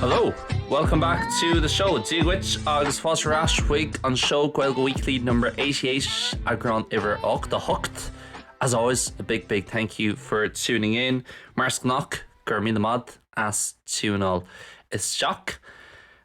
Hello! Welcome back to the show, Dia dhuit agus fáilte ar ais chuig an seó Gaeilge Weekly number 88, eagrán uimhir 88. As always, a big big thank you for tuning in, mar is gnách, go raibh míle maith as tiúnáil isteach.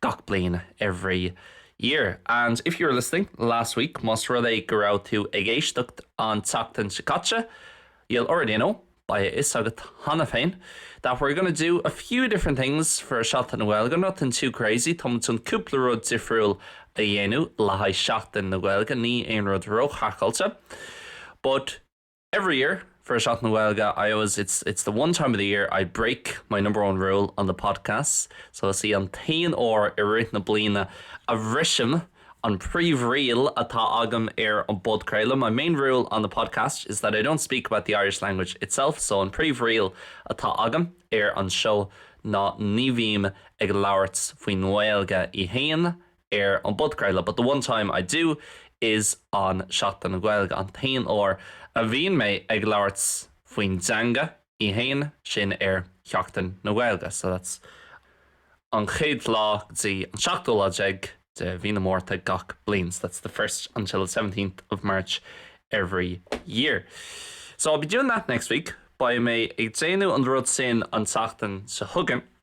gach bliain every year and if you were listening last week más rud é go raibh tú ag éisteacht an tseachtain seo caite you'll already know beidh a fhios agat cheana féin that we're gonna do a few different things for Seachtain na Gaeilge nothing too crazy tá muid chun cúpla rud difriúil a dhéanamh le haghaidh Seachtain na Gaeilge ní aon rud róchraiceáilte but Every year for Seachtain na Gaeilge I always it's it's the one time of the year I break my number one rule on the podcast so is í an t-aon uair i rith na bliana a bhrisim an príomhriail atá agam ar an bpodcraoladh My main rule on the podcast is that I don't speak about the Irish language itself so an príomhriail atá agam ar an seó ná ní bhím ag labhairt faoin nGaeilge í féin ar an bpodcraoladh but the one time I do is on Seachtain na Gaeilge, an t-aon uair a bhíonn mé ag labhairt faoin dteanga í fhéin, sin ar Sheachtain na Gaeilge so that's an chéad lá go dtí an seachtú lá déag de Mhí na Márta gach bliain so that's the first until the seventeenth of March every year. So I'll be doing that next week, beidh mé ag déanamh an rud sin an tseachtain seo chugainn.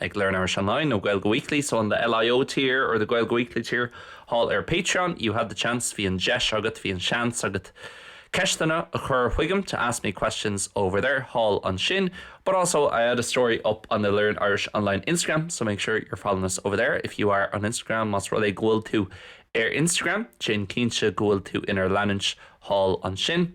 ag Learn Irish Online nó Gaeilge Weekly so in the LIO tier or the Gaeilge Weekly tier thall ar Patreon, you had the chance bhí an deis agat, bhí an seans agat ceisteanna a chur chuigam to ask me questions over there thall ansin but also I had a story up on the Learn Irish Online Instagram so make sure you're following us over there if you are on Instagram más rud é go bhfuil tú ar Instagram déan cinnte go bhfuil tú inár leanúint thall ansin.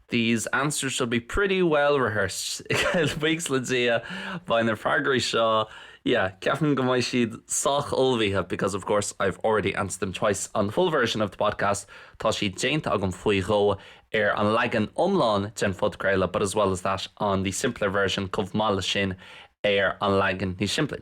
These answers should be pretty well rehearsed. Buíochas le Dia, beidh na freagraí seo, yeah, ceapaim go mbeidh siad sách ullmhaithe because, of course, I've already answered them twice on the full version of the podcast, tá siad déanta agam faoi dhó ar an leagan iomlán den phodchraoladh but as well as that on the simpler version, chomh maith leis sin ar an leagan níos simplí.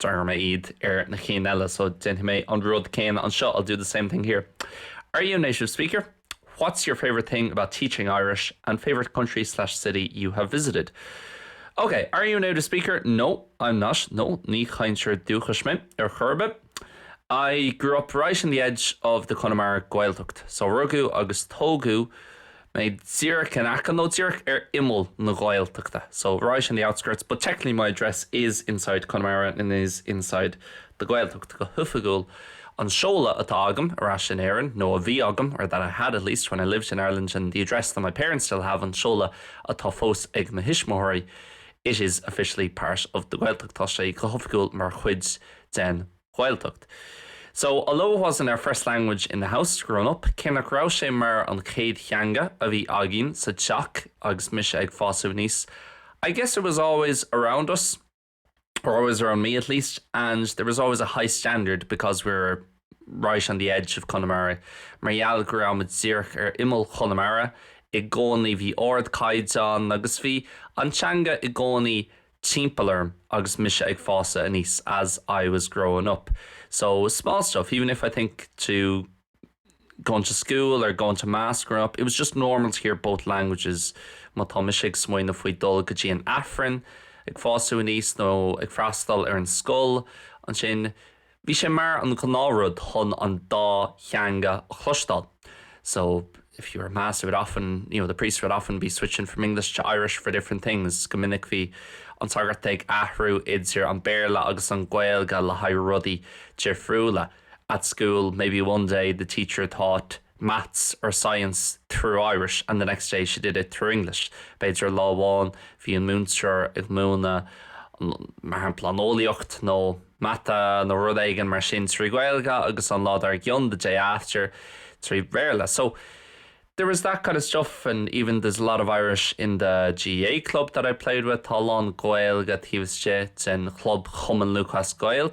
Déarfaidh mé iad ar na cinn eile so déanfaidh mé an rud céanna anseo, I'll do the same thing here. Are you a native speaker? What's your favourite thing about teaching Irish and favourite country slash city you have visited? Ok, are you a native speaker? No, I'm not, No, ní chainteoir dúchais mé ar chor ar bith I grew up right in the edge of the Connemara Gaeltacht, so rugadh agus tógadh, mé díreach in aice, nó díreach ar imeall na Ghaeltachta so right on the outskirts but technically my address is inside Connemara and is inside the Gaeltacht, go hoifigiúil an seoladh atá agam ar ais in Éirinn, nó a bhí agam or that I had at least when I lived in Ireland and the address that my parents still have an seoladh atá fós ag mo thuismitheoirí it is officially part of the Gaeltacht tá sé go hoifigiúil mar chuid den Ghaeltacht. So, although it wasn't our first language in the house growing up, cé nach raibh sé mar an chéad theanga a bhí againn sa teach agus mise ag fásadh aníos, I guess it was always around us, or always around me at least, and there was always a high standard because we were right on the edge of Conamara, mar gheall go raibh muid díreach ar imeall Chonamara, i gcónaí bhí ardchaighdeán agus bhí an teanga i gcónaí timpeall orm agus mise ag fásadh aníos as I was growing up. So, small stuff, even if I think to going to school or going to mass growing up, it was just normal to hear both languages. Má tá mise ag smaoineamh faoi dul go dtí an Aifreann, ag fásadh aníos nó ag freastal ar an scoil, ansin, Bhí sé mar an gnáthrud chun an dá theanga a chloisteáil, so if you were at mass it would often, you know, the priest would often be switching from English to Irish for different things, go minic bhí an sagart ag athrú idir an Béarla agus an Gaeilge le haghaidh rudaí difriúla, at school maybe one day the teacher taught maths or science through Irish and the next day she did it through English b'fhéidir lá amháin bhí an múinteoir ag múineadh an, mar shampla, an eolaíocht nó mata nó rud éigin mar sin trí Ghaeilge agus an lá dar gcionn, the day after, trí Bhéarla. So, there is that kind of stuff and even there's a lot of Irish in the GAA club that I played with, tá a lán Gaeilge taobh istigh den chlub Chumann Lúthchleas Gael.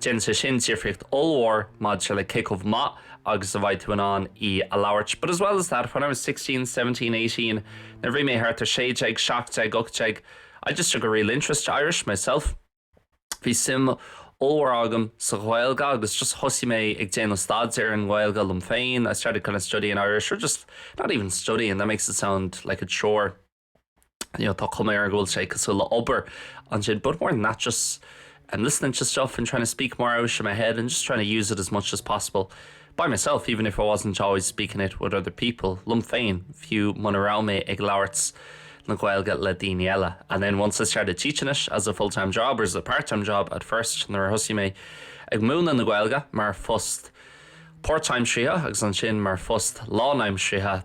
Déanann sé sin difríocht ollmhór maidir le cé chomh maith agus a bheidh tú in ann í a labhairt, but as well as that, when I was sixteen, seventeen, eighteen, nuair a bhí mé thart ar sé déag, seacht déag, ocht déag, I just took a real interest to Irish myself. Bhí suim ollmhór agam sa Ghaeilge agus just thosaigh mé ag déanamh staidéir ar an nGaeilge liom féin, I started kind of studying Irish or just not even studying, that makes it sound like a chore. you know, tá cuma ar go bhfuil sé cosúil le obair ansin, but more than that, just I'm listening to stuff and trying to speak more out of my head and just trying to use it as much as possible by myself, even if I wasn't always speaking it with other people. Lum féin, fiú muna rá mé ag labhairt na Gaeilge le daoine eile. And then once I started teaching it as a full-time job or as a part-time job at first, nuair a thosaí mé ag múna na Gaeilge mar phost part-time seo agus an sin mar phost lánaimseartha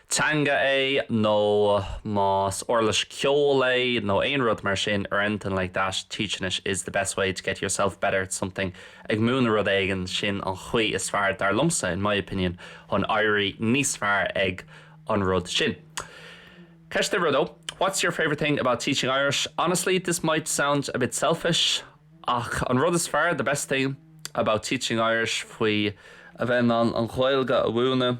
teanga é nó más uirlis ceoil é nó aon rud mar sin or anything like that, teaching it is the best way to get yourself better at something, ag múineadh rud éigin, sin an chaoi is fearr, dar liomsa, in my opinion, chun éirí níos fearr ag an rud sin. Ceist uimhir a dó, What's your favourite thing about teaching Irish? Honestly, this might sound a bit selfish, ach an rud is fearr, the best thing, about teaching Irish faoi a bheith in ann an Ghaeilge a mhúineadh,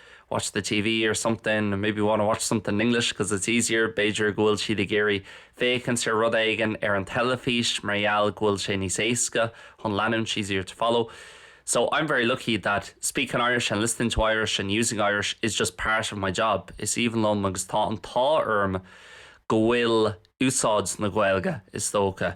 watch the TV or something, maybe want to watch something in English because it's easier, b'fhéidir go bhfuil siad ag iarraidh féachaint ar rud éigin ar an teilifís mar gheall go bhfuil sé níos éasca chun leanúint easier to follow So I'm very lucky that speaking Irish and listening to Irish and using Irish is just part of my job, is aoibhinn liom agus tá an t-ádh orm go bhfuil úsáid na Gaeilge, is dócha,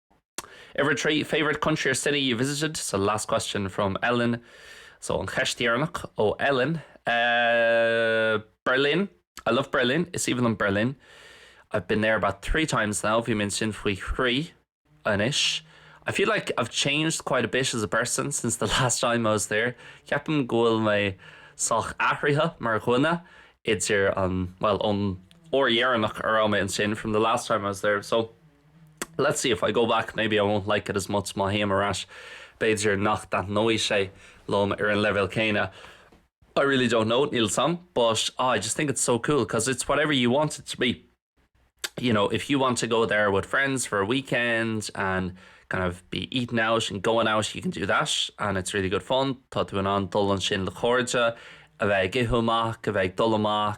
Uimhir 3, favourite country or city you visited? So last question from Ellen, so an cheist dheireanach ó Ellen eh Berlin, I love Berlin, is aoibhinn liom Berlin, I've been there about three times now, bhí mé ansin faoi thrí anois, I feel like I've changed quite a bit as a person since the last time I was there, ceapaim go bhfuil mé sách athraithe mar dhuine idir an, bhuel, ón uair dheireanach a raibh mé ansin, from the last time I was there, so. let's see if I go back maybe I won't like it as much má théim ar ais b'fhéidir nach dtaitneoidh sé liom ar an leibhéal céanna I really don't know, níl 'sam, but ah I just think it's so cool cause it's whatever you want it to be you know if you want to go there with friends for a weekend and kind of be eating out and going out you can do that and it's really good fun tá tú in ann dul ansin le cairde a bheith ag ithe amach a bheith ag dul amach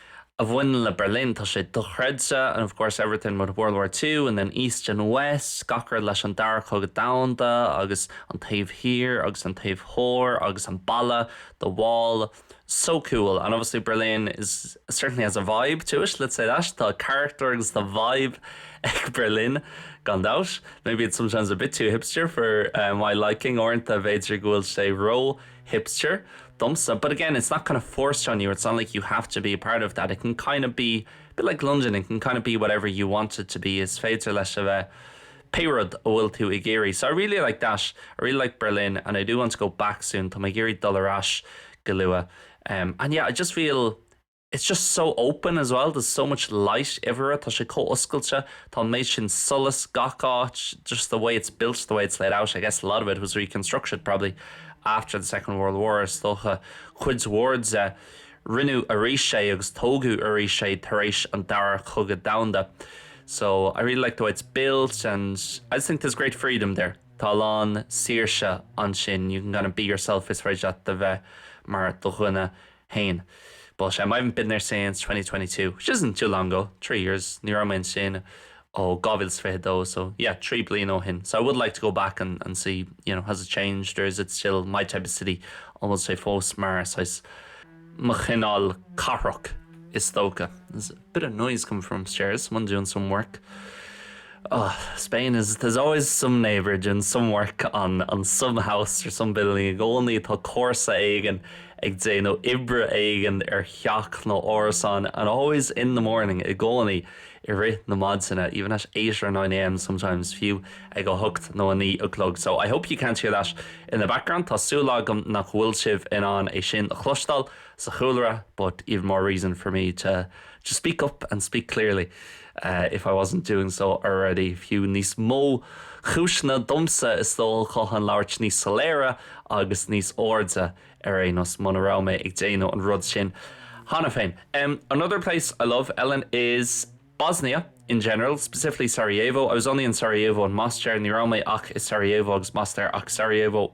a bhaineann le Berlin. Tá sé dochreidte, and of course everything with World War Two and then East and West, gach rud leis an Dara Cogadh Domhanda agus an taobh thiar agus an taobh thoir agus an balla, the wall, so cool and obviously Berlin is, certainly has a vibe to it, let's say that, tá carachtar agus tá vibe ag Berlin gan dabht, maybe it's sometimes a bit too hipster for my liking uaireanta b'fhéidir go bhfuil sé ró. hipster, domsa, but again it's not kind of forced on you, it's not like you have to be a part of that, it can kind of be a bit like London, it can kind of be whatever you want it to be, is féidir leis a bheith pé rud a bhfuil tú ag iarraidh, so I really like that, I really like Berlin and I do want to go back soon, tá mé ag iarraidh dul ar ais go luath, and yeah I just feel. It's just so open as well, there's so much light everywhere, tá sé chomh oscailte, tá an méid sin solais gach áit, just the way it's built, the way it's laid out, I guess a lot of it was reconstructed probably after the Second World War, is dócha cuid mhór de, rinneadh arís é agus tógadh arís é tar éis an Dara Cogadh Domhanda, so I really like the way it's built and I just think there's great freedom there, tá a lán saoirse ansin, you can kind of be yourself, is féidir leat a bheith mar do dhuine féin. But em I haven't been there since twenty twenty two, which isn't too long ago, three years, ní raibh mé ansin ó dhá mhíle is fiche dó, so yeah trí bliana ó shin, so I would like to go back and and see you know has it changed or is it still my type of city, an bhfuil sé fós mar saghas mo chineál cathrach is dócha. bit of noise coming from upstairs, someone doing some work oh Spain is there's always some neighbour doing some work on on some house or some building i gcónaí tá comharsa éigin ag déanamh oibre éigin ar theach nó árasán and always in the morning i gcónaí i rith na maidine even at eight or nine am sometimes fiú ag a hocht nó a naoi a chlog so I hope you can't hear that in the background tá súil agam nach bhfuil sibh in ann é sin a chloisteáil sa chúlra but even more reason for me to just speak up and speak clearly if I wasn't doing so already fiú níos mó cúiseanna domsa is dócha chun labhairt níos soiléire agus níos airde ar aon nós muna raibh mé ag déanamh an rud sin cheana féin. Another place I love, Ellen, is Bosnia in general, specifically Sarajevo. I was only in Sarajevo and Mostar, ní raibh mé ach i Sarajevo agus Mostar, ach Sarajevo,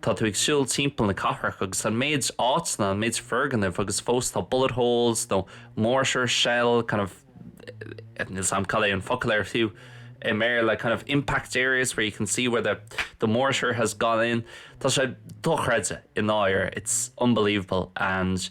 Tá tú ag siúl timpeall na cathrach agus an méid áiteanna, an méid foirgneamh agus fós tá bullet holes nó mortar shell kind of, níl 's a'm cad é an focal air fiú i mBéarla, kind of impact areas where you can see where the the mortar has gone in. Tá sé dochreidte i ndáirire, it's unbelievable and.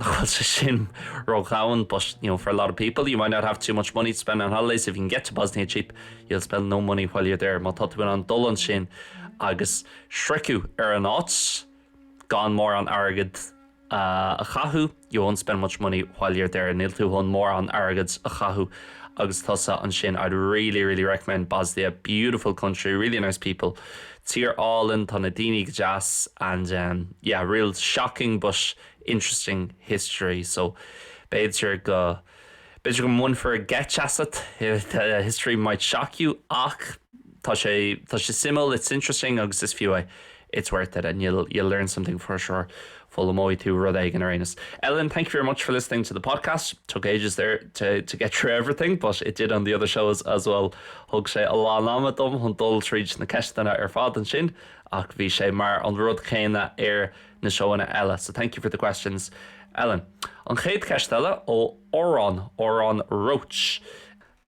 nach bhfuil sé sin ró-dhomhain but you know for a lot of people you might not have too much money to spend on holidays if you can get to Bosnia cheap, you'll spend no money while you're there má tá tú in ann dul ansin agus sroicheadh ar an áit gan mórán airgead a chaitheamh you won't spend much money while you're there níl tú chun mórán airgead a chaitheamh agus tusa ansin I'd really, really recommend Bosnia, beautiful country, really nice people Tír álainn, tá na daoine go deas and ehm yeah, real shocking but interesting history so b'fhéidir go, b'fhéidir go mbainfear geit asat, the history might shock you ach tá sé, tá sé suimiúil, it's interesting agus is fiú é, it's worth it and you'll, you'll learn something for sure. foghlaimeoidh tú rud éigin ar aon nós. Ellen, thank you very much for listening to the podcast. Took ages there to to get through everything but it did on the other shows as well. Thug sé a lán ama dom chun dul tríd na ceisteanna ar fad ansin ach bhí sé mar an rud céanna ar na seóanna eile. So thank you for the questions, Ellen. An chéad cheist eile ó Odhrán, Odhrán Roche.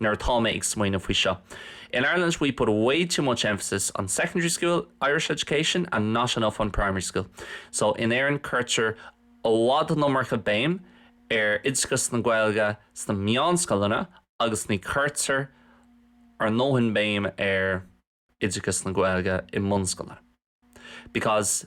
nuair atá mé ag smaoineamh faoi seo, in Ireland we put way too much emphasis on secondary school Irish education and not enough on primary school so in Éirinn cuirtear i bhfad an iomarca béim ar oideachas na Gaeilge sna meánscoileanna agus ní cuirtear a ndóthain béim ar oideachas na Gaeilge i mbunscoileanna because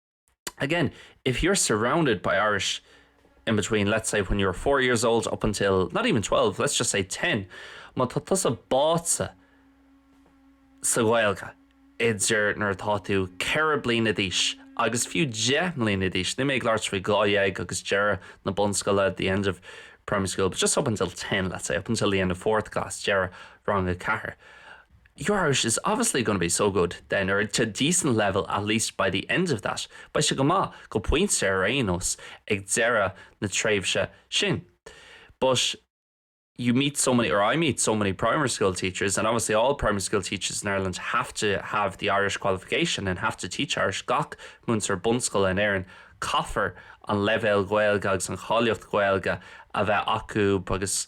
Again, if you're surrounded by Irish in between, let's say, when you were four years old up until, not even twelve, let's just say ten, má tá tusa báite sa Ghaeilge idir nuair atá tú ceithre bliana d'aois agus fiú deich mbliana d'aois, níl mé ag labhairt faoi dhá dhéag agus deireadh na bunscoile, the end of primary school, but just up until ten, let's say, up until the end of fourth class, deireadh rang a ceathair. Your Irish is obviously going to be so good, then, or to a decent level at least, by the end of that, beidh sé go maith, go pointe ar aon nós, ag deireadh na tréimhse sin. But you meet so many, or I meet so many primary school teachers, and obviously all primary school teachers in Ireland have to have the Irish qualification and have to teach Irish, gach múinteoir bunscoile in Éirinn, caithfear an leibhéal Gaeilge agus an cháilíocht Ghaeilge a bheith acu agus.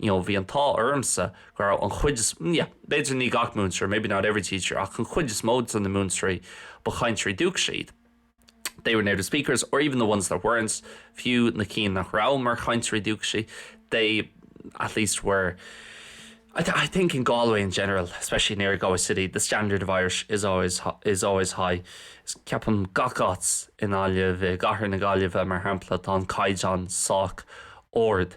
you know bhí an t-ádh ormsa go raibh an chuid is yeah b'fhéidir ní gach múinteoir maybe not every teacher ach an chuid is mó de na múinteoirí ba chainteoirí dúchais iad they were native speakers or even the ones that weren't fiú na cinn nach raibh mar chainteoirí dúchais they at least were, I think in Galway in general especially near Galway City the standard of Irish is always is always high is ceapaim gach áit i nGaillimh i gcathair na Gaillimhe mar shampla tá an caighdeán sách ard.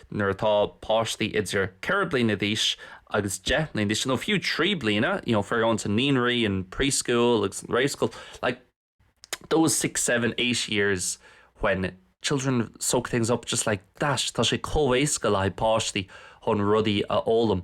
Nuair atá páistí idir ceithre bliana d'aois agus deich mbliana d'aois, nó fiú trí bliana, you know, if they're going to naíonraí and preschool agus and réamhscoil, like, those six, seven, eight years when children soak things up just like that, tá sé chomh éasca le haghaidh páistí chun rudaí a fhoghlaim.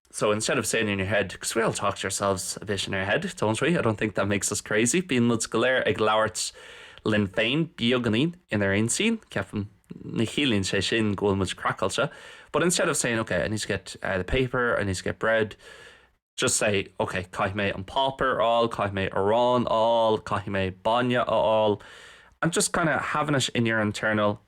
so instead of saying in your head, 'cause we all talk to ourselves a bit in our head, don't we, I don't think that makes us crazy', bíonn muid go léir ag labhairt linn féin beagáinín inár intinn, ceapaim, ní chiallaíonn sé sin go bhfuil muid craiceáilte, but instead of saying, 'okay, I need to get uh, the paper, I need to get bread', just say, 'okay, caithfidh mé an páipéar a fháil, caithfidh mé arán a fháil, caithfidh mé bainne a fháil', and just kind of having it in your internal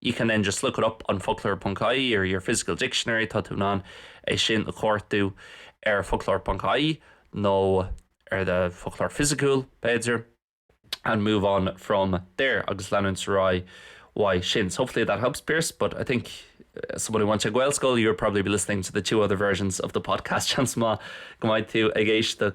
You can then just look it up on focloir.ie or your physical dictionary, tá tú in ann é sin a chuartú ar focloir.ie nó ar do foclóir fisiciúil, b'fhéidir, and move on from there, agus leanúint ar aghaidh uaidh sin. So hopefully that helps, Pearse, but I think, as someone who went to Gaelscoil, you would probably be listening to the two other versions of the podcast, seans maith go mbeidh tú ag éisteacht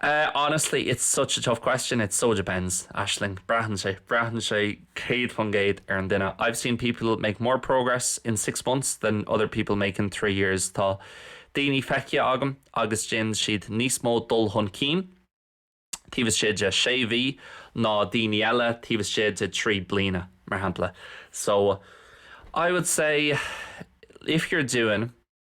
Eh honestly, it's such a tough question, it so depends, Aisling. Braitheann sé, braitheann sé céad faoin gcéad ar an duine. I've seen people make more progress in six months than other people make in three years. Tá daoine feicthe agam agus déanann siad níos mó dul chun cinn taobh istigh de sé mhí ná daoine eile taobh istigh de trí bliana, mar shampla. So, I would say, if you're doing.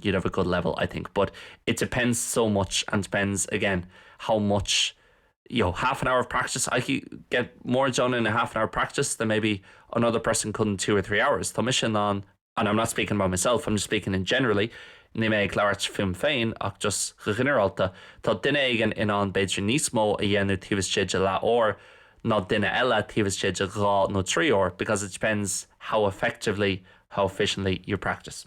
you'd have a good level I think but it depends so much and depends again how much you know half an hour of practice I could get more done in a half an hour practice than maybe another person could in two or three hours tá mise in ann and I'm not speaking about myself I'm just speaking in generally níl mé ag labhairt fúm féin ach just go ginearálta tá duine éigin in ann b'fhéidir níos mó a dhéanamh taobh istigh de leath uair ná duine eile taobh istigh de dhá nó trí uair because it depends how effectively how efficiently you practice.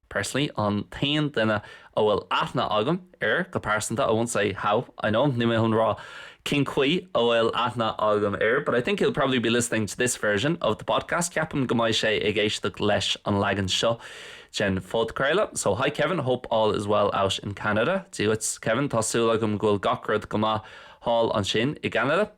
personally, an t-aon duine a bhfuil aithne agam air go pearsanta, I won't say how I know him, níl mé chun rá cén chaoi a bhfuil aithne agam air, but I think he'll probably be listening to this version of the podcast, ceapaim go mbeidh sé ag éisteacht leis an leagan seo den phodchraoladh, so hi Kevin, hope all is well out in Canada, Dia dhuit, Kevin, tá súil agam go bhfuil gach rud go maith thall ansin i gCeanada.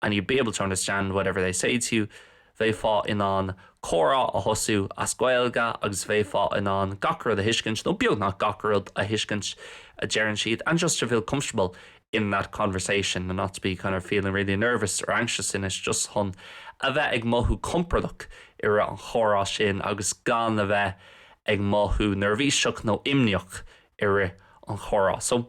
and you'd be able to understand whatever they say to you, bheifeá in ann comhrá a thosú as Gaeilge agus bheifeá in ann gach rud a thuiscint, nó beagnach gach rud a thuiscint a deireann siad, and just to feel comfortable in that conversation and not to be kind of feeling really nervous or anxious in it, just chun a bheith ag mothú compordach i rith an chomhrá sin agus gan a bheith ag mothú neirbhíseach nó imníoch i rith an chomhrá. So.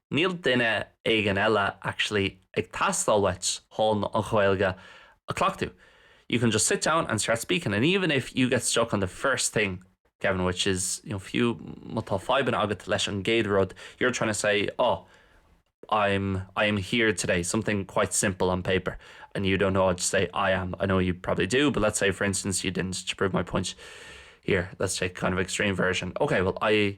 Níl duine éigin eile actually ag teastáil uait chun an Ghaeilge a cleachtadh you can just sit down and start speaking and even if you get stuck on the first thing Kevin which is you know fiú má tá fadhbanna agat leis an gcéad rud you're trying to say oh I'm I am here today something quite simple on paper and you don't know how to say I am I know you probably do but let's say for instance you didn't to prove my point here let's take kind of extreme version okay well I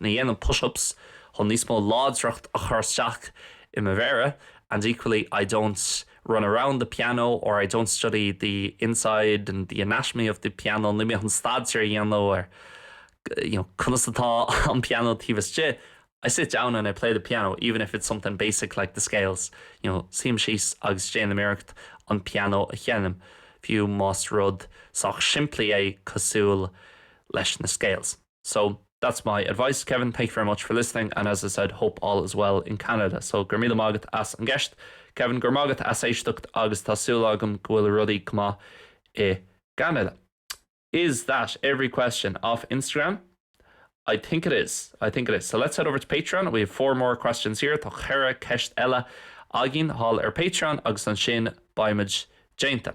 Ní dhéanaim push-ups chun níos mó láidreacht a chur isteach i mo mhéara and equally I don't run around the piano or I don't study the inside and the anatomy of the piano, níl mé chun staidéar a dhéanamh ar you know conas atá an pianó taobh istigh, I sit down and I play the piano even if it's something basic like the scales, you know suím síos agus déanaim iarracht an pianó a sheinm, fiú más rud sách simplí é cosúil leis na scales. So, that's my advice. Kevin, thank you very much for listening and as I said, hope all is well in Canada. So, go raibh míle maith agat as an gceist. Kevin, go raibh maith agat as éisteacht agus tá súil agam go bhfuil rudaí go maith i gCeanada. Is that every question off Instagram? I think it is, I think it is. So, let's head over to Patreon, we have four more questions here, tá ceithre ceist eile againn thall ar Patreon agus ansin beimid déanta.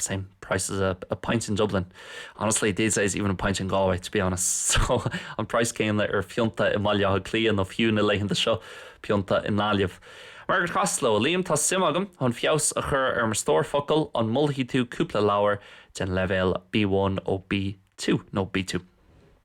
same price as a pint in Dublin, honestly these days even a pint in Galway to be honest so an praghas céanna ar phionta i mBaile Átha Cliath nó fiú na laethanta seo, pionta i nGaillimh. Margaret Costello, A Liam, tá suim agam, chun feabhas a chur ar mo stór focal, an molfaidh tú cúpla leabhar den leibhéal B1 ó B2 nó B2?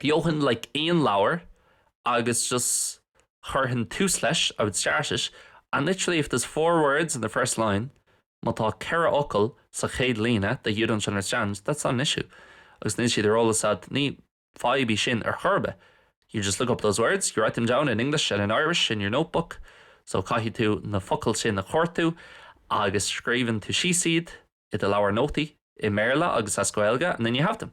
Gheobhainn like aon leabhar agus just chuirfinn tús leis, I'd start it and literally if there's four words in the first line, má tá ceithre fhocal sa chéad líne that you don't understand, that's not an issue agus níl siad ar eolas agat, ní fadhb í sin ar chor ar bith, you just look up those words, you write them down in English and in Irish in your notebook so caithfidh tú na focail sin a chuartú agus scríobhann tú síos iad i do leabhar nótaí i mBéarla agus as Gaeilge and then you have them.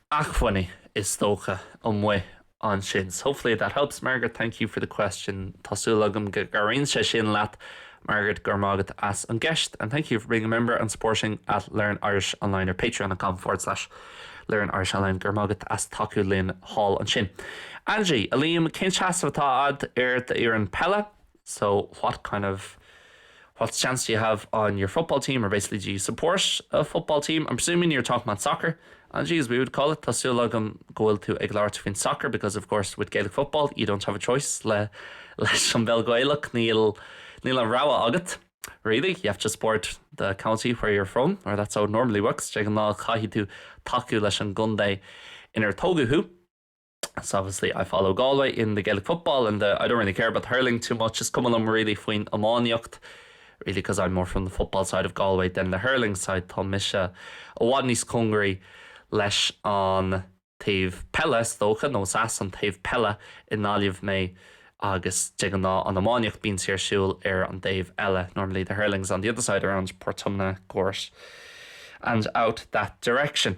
acmhainní is dócha amuigh ansin. So hopefully that helps. Margaret, thank you for the question. Tá súil agam go gcabhraíonn sé sin leat. Margaret, Go raibh maith agat as an gceist and thank you for being a member and supporting at Learn Irish Online ar patreon.com forward slash learnirishonline. Go raibh maith agat as tacú linn thall ansin. Angie, a Liam, cén seasamh atá agat ar d'fhoireann peile? so what kind of what stance do you have on your football team or basically do you support a football team, I'm presuming you're talking about soccer and geez we would call it tá súil agam go bhfuil tú ag labhairt faoin soccer because of course with Gaelic football you don't have a choice le leis an bpeil Ghaelach níl níl an rogha agat really you have to support the county where you're from or that's how it normally works de ghnáth caithfidh tú tacú leis an gcontae inar tógadh thú So obviously I follow Galway in the Gaelic football and I don't really care about the hurling too much, is cuma liom really faoin iománaíocht really because I'm more from the football side of Galway than the hurling side, tá mise i bhfad níos cóngaraí leis an taobh peile is dócha, nó is as an taobh peile i nGaillimh mé agus de ghnáth an iománaíocht bíonn sí ar siúl ar an dtaobh eile, normally the hurling's on the other side around Portumna, Gort and out that direction.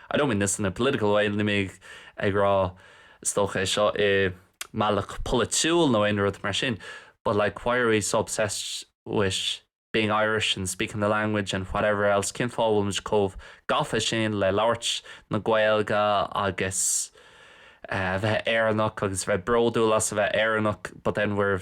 I don't mean this in a political way, níl mé ag rá, is dócha, é seo i mbealach polaitiúil nó aon rud mar sin, but like why are we so obsessed with being Irish and speaking the language and whatever else, cén fáth a bhfuil muid chomh gafa sin le labhairt na Gaeilge agus a bheith Éireannach agus a bheith bródúil as a bheith Éireannach but then we're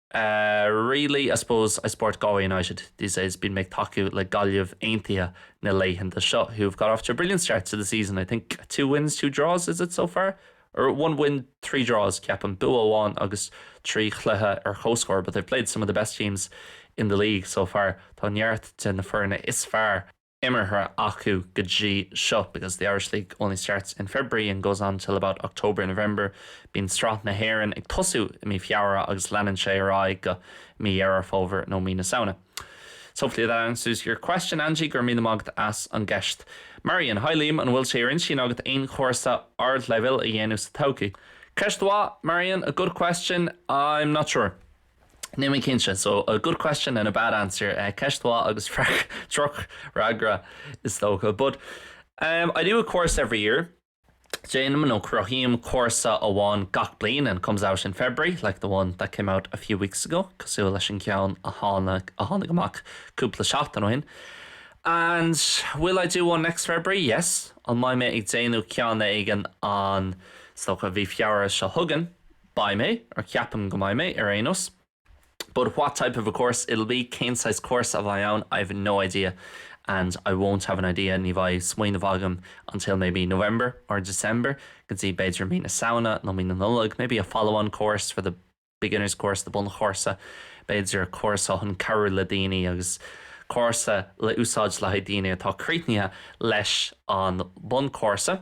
Really, I suppose I support Galway United these days, bíonn mé ag tacú le Gaillimh Aontaithe na laethanta seo, who've got off to a brilliant start to the season, I think two wins, two draws is it so far? or one win, three draws, ceapaim, bua amháin agus trí chluiche ar comhscór, but they've played some of the best teams in the league so far, tá neart de na foirne is fearr. imeartha acu go dtí seo because the Irish League only starts in February and goes on till about October, November. Bíonn Sraith na hÉireann ag tosú i mí Feabhra agus leanann sé ar aghaidh go Mí Dheireadh Fómhair nó Mí na Samhna. So hopefully that answers your question, Angie. Go raibh míle maith agat as an gceist. Marian, Hi Liam, an bhfuil sé ar intinn agat aon chúrsa ardleibhéil a dhéanamh sa todhchaí? Ceist mhaith, Marian, a good question. I'm not sure. Níl mé cinnte. So, a good question and a bad answer, ceist mhaith agus droch fhreagra is dócha. But, em, I do a course every year, déanaim nó cruthaím cúrsa amháin gach bliain and it comes out in February, like the one that came out a few weeks ago, cosúil leis an gceann a tháinig, a tháinig amach cúpla seachtain ó shin. And, will I do one next February? Yes. An mbeidh mé ag déanamh ceann éigin an, is dócha, mhí Feabhra seo chugainn? Beidh mé, or ceapaim go mbeidh mé, ar aon nós But what type of a course it'll be, cén saghas cúrsa a bheidh ann, I've no idea and I won't have an idea, ní bheidh smaoineamh agam until maybe November or December, go dtí b'fhéidir mí na Samhna nó mí na Nollag Maybe a follow-on course for the beginner's course, the bunchúrsa, b'fhéidir cúrsa chun cabhrú le daoine agus cúrsa le úsáid le haghaidh daoine atá críochnaithe leis an bunchúrsa.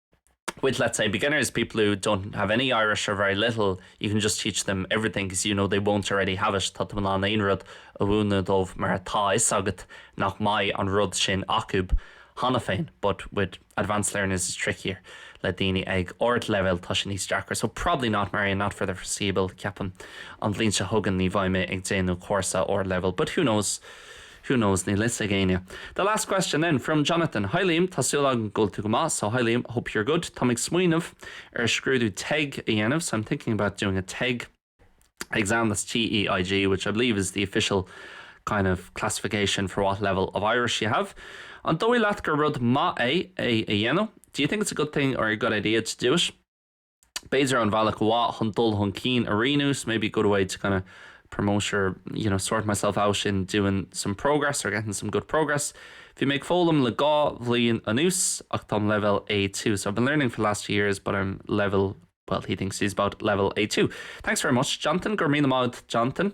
with let's say beginners, people who don't have any Irish or very little, you can just teach them everything 'cause you know they won't already have it, tá tú in ann aon rud a mhúineadh dóibh mar tá a fhios agat nach mbeidh an rud sin acu cheana féin but with advanced learners it's trickier, le daoine ag ardleibhéal tá sé níos deacra so probably not Marian, not for the foreseeable, ceapaim, an bhliain seo chugainn ní bheidh mé ag déanamh cúrsa ardleibhéil but who knows? Who knows, níl 'fhios ag éinne. The last question then, from Jonathan, Hi Liam, tá súil agam go bhfuil tú go maith, so hi Liam, hope you're good, táim ag smaoineamh ar scrúdú teg a dhéanamh, so I'm thinking about doing a teg exam, that's T-E-I-G, which I believe is the official kind of classification for what level of Irish you have. An dóigh leat gur rud maith é é a dhéanamh? Do you think it's a good thing or a good idea to do it? b'fhéidir, an bhealach mhaith chun dul chun cinn a rianú, this may be a good way to kinda promote your, you know, sort myself out in doing some progress or getting some good progress. Bhí mé ag foghlaim le dhá bhliain anuas ach táim leibhéal A2, so I've been learning for the last two years but I'm level, well, he thinks he's about level A2. Thanks very much, Jonathan. Go raibh míle maith agat, Jonathan.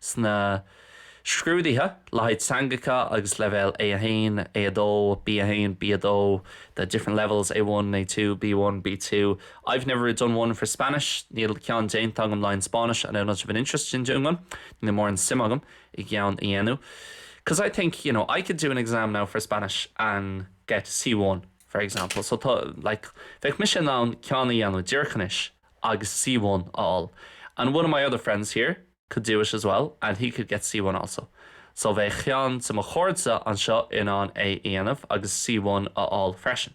sna scrúduithe le haghaidh teangacha agus leibhéal A1, A2, B1, B2, the different levels, A1, A2, B1, B2, I've never done one for Spanish, níl ceann déanta agam le haghaidh an Spáinnis, I've not much of an interest in doing one, níl mórán suime agam i gceann a dhéanamh, 'cause I think, you know, I could do an exam now for Spanish and get C1, for example, so tá, like, bheadh mise in ann ceann a dhéanamh díreach anois agus C1 a fháil, and one of my other friends here, could do it as well and he could get C1 also so bheadh ceann de mo chairde anseo in ann é a dhéanamh agus C1 a fháil freisin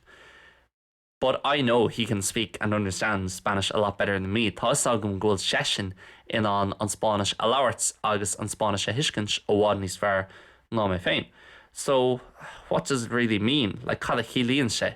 but I know he can speak and understand Spanish a lot better than me, tá 'fhios agam go bhfuil seisean in ann an Spáinnis a labhairt agus an Spáinnis a thuiscint i bhfad níos fearr ná mé féin so what does it really mean, like cad a chiallaíonn sé?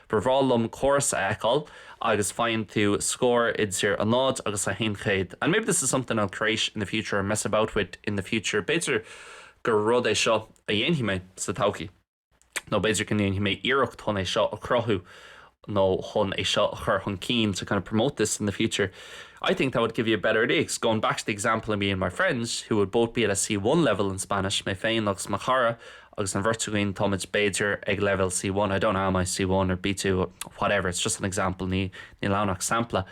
Ba bhreá liom córas a fheiceáil agus faigheann tú scór idir a náid agus a haon chéad and maybe this is something I'll create in the future or mess about with in the future b'fhéidir gur rud é seo a dhéanfaidh mé sa todhchaí nó b'fhéidir go ndéanfaidh mé iarracht chun é seo a chruthú nó chun é seo a chur chun cinn to kind of promote this in the future I think that would give you a better idea cos going back to the example of me and my friend who would both be at a C1 level in Spanish mé féin agus mo chara Agus an bheirt againn, tá muid b'fhéidir ag leibhéal C1, I don't know am I C1 or B2, whatever, it's just an example, níl ann ach sampla,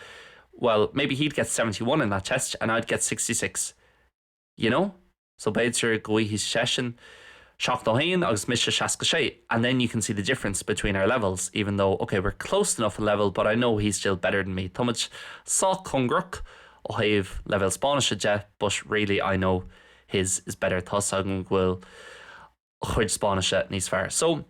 well, maybe he'd get seventy one in that test and I'd get sixty six, you know? So b'fhéidir go bhfaigheadh seisean seachtó a haon agus mise seasca sé and then you can see the difference between our levels, even though, okay, we're close enough in level but I know he's still better than me. Tá muid sách cóngarach ó thaobh leibhéal Spáinnise de but really I know his is better tá's agam go bhfuil a chuid Spáinnise níos fearr so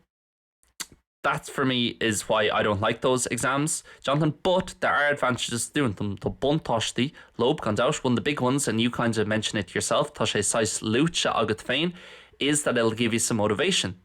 that for me is why I don't like those exams Jonathan, but there are advantages doing them tá buntáistí leob gan dabht one of the big ones and you kind of mention it yourself tá sé saghas luaite agat féin is that it'll give you some motivation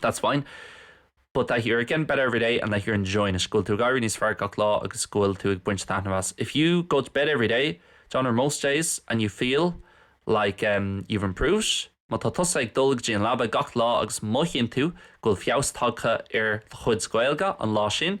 That's fine. But that you're getting better every day and that you're enjoying it, go bhfuil tú ag éirí níos fearr gach lá agus go bhfuil tú ag baint taitneamh as. If you go to bed every day, you know, or most days and you feel like, em, you've improved, má tá tusa ag dul go dtí an leaba gach lá agus mothaíonn tú go bhfuil feabhas tagtha ar do chuid Gaeilge an lá sin,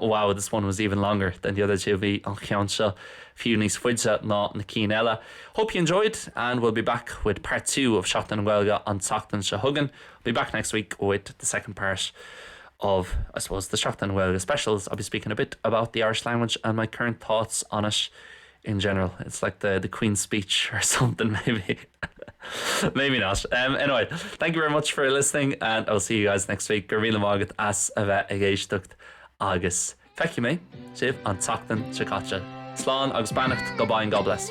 Wow, this one was even longer than the other two, bhí an cheann seo fiú níos faide ná na cinn eile. Hope you enjoyed and we'll be back with part two of Seachtain na Gaeilge an tseachtain seo chugainn I'll be back next week with the second part of, I suppose, the Seachtain na Gaeilge specials. I'll be speaking a bit about the Irish language and my current thoughts on it. in general, it's like the the Queen's speech or something maybe maybe not um anyway thank you very much for listening and I'll see you guys next week go raibh míle maith agat as a bheith ag éisteacht agus feicfidh mé sibh an tseachtain seo caite slán agus beannacht goodbye and God bless.